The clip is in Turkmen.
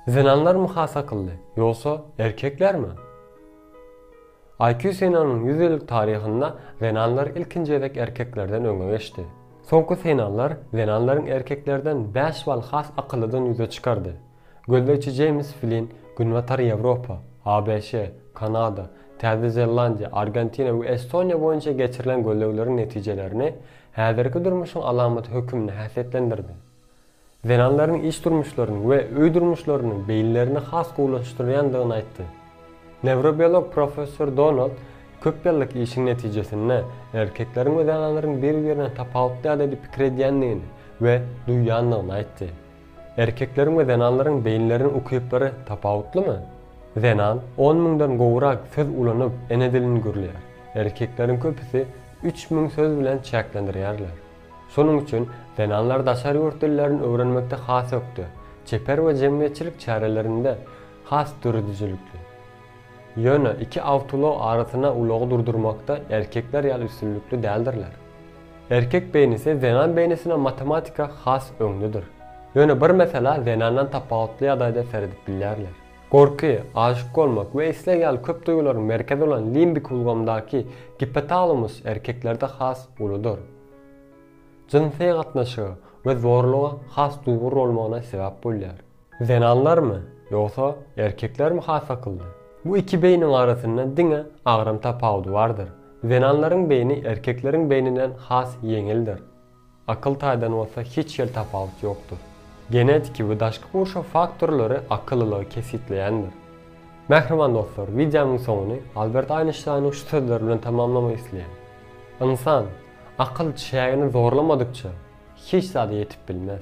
Zenanlarmy has akylly, ýogsa erkeklermi? IQ synanynyň ýüz ýyllyk taryhynda zenanlar ilkinji gezek erkeklerden öňe geçdi. Soňky synanlar zenanlaryň erkeklerden bäş bal has akyllydygyny ýüze çykardy. Gözlegçi Jeýms Flinn Günbatar Ýewropa, ABŞ, Kanada, Täze Zelandiýa, Argentina we Estoniýa boýunça geçirilen gözlegleriň netijelerini häzirki durmuşyň alamaty hökmünde häsiýetlendirdi. zenanlaryň iş durmuşlaryny we öý durmuşlaryny beýinlerini has gowulaşdyrýandygyny aýtdy. Newrobiolog professor Donald köp ýyllyk işiň netijesinde erkekleriň we zenanlaryň bir-birine tapawutly ýagdaýda pikir edýändigini we duýýandygyny aýtdy. Erkekleriň we zenanlaryň beýinleriniň ukyplary tapawutlymy? Zenan on müňden gowurak söz ulanyp, ene dilini gürleýär. Erkekleriň köpüsi üç müň söz bilen çäklendirýärler. Şonuň üçin zenanlar daşary ýurt dillerini öwrenmekde has ökde, çeper we jemgyýetçilik çärelerinde has döredijilikli. Ýöne iki awtoulag arasyna ulagy durdurmakda erkekler ýaly üstünlikli däldirler. Erkek beýnisi zenan beýnisine matematika has öňdedir. Ýöne bir meselä zenandan tapawutly ýagdaýda seredip bilýärler. Gorky, aşyk bolmak we isleg ýaly köp duýgularyň merkezi bolan limbik ulgamdaky gipotalamus erkeklerde has uludyr. Jynsy gatnaşyga we zorluga has duýgur bolmagyna sebäp bolýar. Zenanlarmy, ýogsa erkeklermi has akylly? Bu iki beýniň arasynda diňe agram tapawudy bardyr. Zenanlaryň beýni erkekleriň beýninden has ýeňildir. Akyl taýdan bolsa hiç hil tapawut ýokdur. Genetiki we daşky gurşaw faktorlary akyllylygy kesgitleýändir. Mähriban dostlar, wideomyň soňuny Albert Aýnşteýniň şu sözleri bilen tamamlamak isleýän, Ynsan, akyl çägini zorlamadykça, hiç zada ýetip bilmez.